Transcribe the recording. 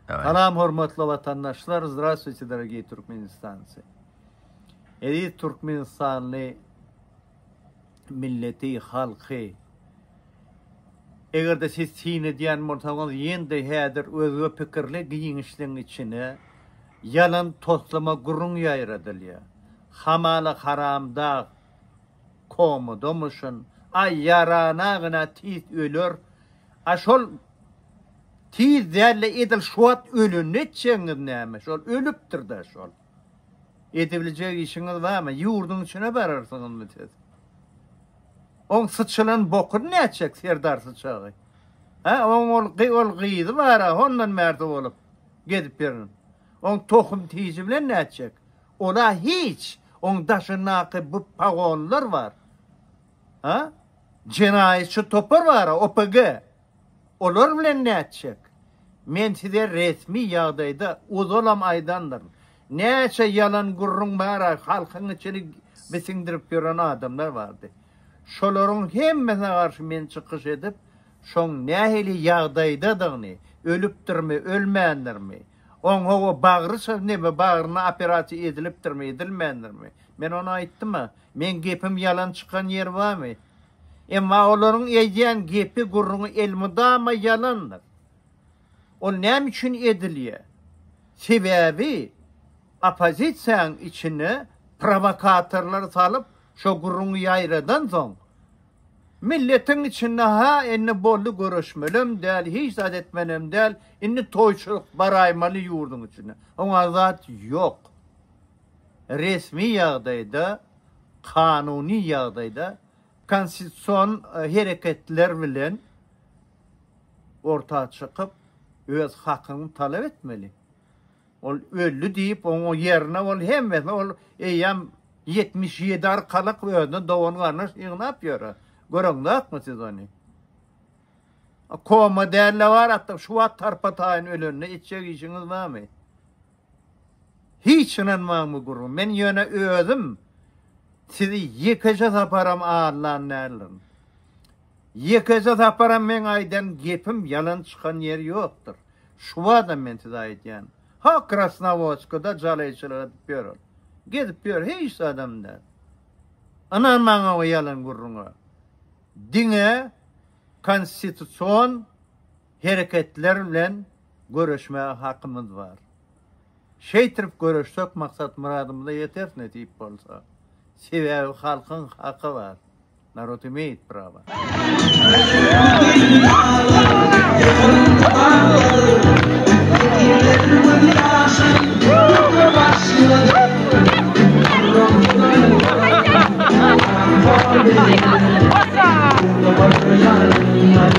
Salam hormatly watandaşlar Zdravstwuyte dorogiý Türkmenistancy Eziz Türkmenistanly milleti halky Egerde siz syn edýän bolsaňyz ýende häzir özge pikirli giňişligiň içine ýalan toslama gürrüň ýaýradylýar hamala haramdag komadamyşyn aý ýarana gyna tiz öler a şol Tiz dälle edil şuwat ölende etjegiňiz näme şol ölüpdirda şol edibiljek işiňiz barmy ýurdyň içine bararsyňyzmy siz oň syçylan bokuny nätjek serdar syçagy ha oň ol ol gyzy bara hondan märde bolup gezip ýörün oň tohum tiji bilen nätjek ola hiç oň daşyndaky bu pagonlar bar ha jenaýatçy topar bara opg Olar bilen nätjek? Men size resmi ýagdaýda ozalam aýdandyryn. Näçe ýalan gürrüň bara halkyň içini bisiňdirip ýören adamlar bardy. Şolaryň hemmesine garşy men çykyş edip, şoň nähili ýagdaýdadygyny, ölüpdirmi, ölmändirmi, oň hawa bagry çyznymy, bagryna operasiýa edilipdirmi, edilmändirmi, men ony aýtdym-a. Meň gepim ýalan çykan ýeri barmy? Emma olaryň eýdýän gepi-gürrüňi elmydama ýalandyr. Ol näme üçin edilýär? Sebäbi oppozisiýaň içine prowokatorlary salyp, şo gürrüňi ýaýradansoň, milletiň içinde ha indi boldy göreşmelem däl, hiç zat etmelem däl, indi toýçulyk baraýmaly ýurduň içine. Oňa zat ýok. Resmi ýagdaýda. kanuny ýagdaýda konstitusion hereketler bilen orta çykyp, öz hakyňy talap etmeli. Ol öldi diýip, oňa ýerine ol hemmesini ol eýýäm ýetmiş ýedi arkalyk özüne dogan-garyndaş ýygnap ýör. Göreňzokmy siz ony? Koma däl-de bar, şu wagt tarpa-taýyn ölende etjek işiňiz näme? Hiç ynanmagmy gürrüň. Men ýöne özüm sizi ýekeje saparam allan däldirin. Ýekeje saparam meň aýdan gepim ýalan çykan ýeri ýokdur. Şuwadam men size aýdýan. Ha Krasnawoçkada jaleýçylyk edip ýörün. Gezip ýör hiç zadam däl. Ynanmaň oňa ýalan gürrüňe. Diňe konstitusion hereketler bilen göreşmäge hakymyz bar. Şeýtrip göreşsek maksat-myradymyza ýeteris nesip bolsa. Sebäbi halkyň haky bar. Narod imeýit prawa.